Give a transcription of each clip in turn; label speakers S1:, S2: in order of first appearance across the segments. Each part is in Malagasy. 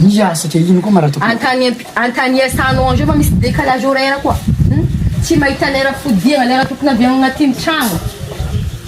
S1: Miazaka
S2: ino koa ma Ratoky ô. Antanier
S1: San Ange fa misy décalage horaire koa hum tsy mahita lera fodiagna lera tokony avy agnatiny tragno.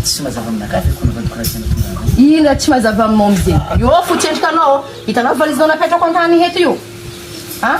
S1: Tsy mazava aminakahy ve kony Ratoky raha tena
S2: tonga any? Ino raha tsy mazava aminao
S1: amzegny? Eo fo tsendrikanao ô, hitanao valizinao napetrako antany eto io a?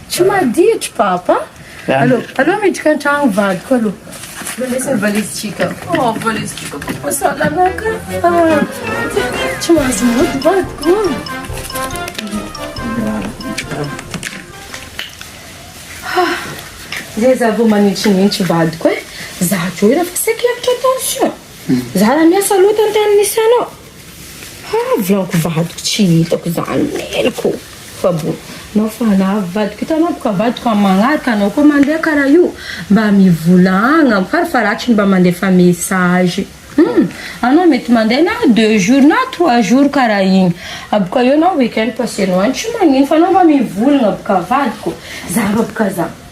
S1: Tsy maditry papa Allo allo miditra antragno vadiko allo Mandesin valise tsika oh valise tsika koa sa lalaka Tsy mahazo mody vadiko Zay za vao manintsinitsy vadiko eh Za teo efa saiky lavitra tension Za raha miasa loatra ny tany misy anao Haa vlanko vadiko tsy hitako zany meloko fa bo nao fa na vadiko hitanao boka vadiko an magnaraka anao koa mandeha karaha io mba mivolagna fara faratsiny mba mandefa message hum anao mety mandeha na deux jours na trois jours karaha igny aboka eo na week-end passenao any tsy magnino fa anao mba mivolagna boka vadiko zara boka za.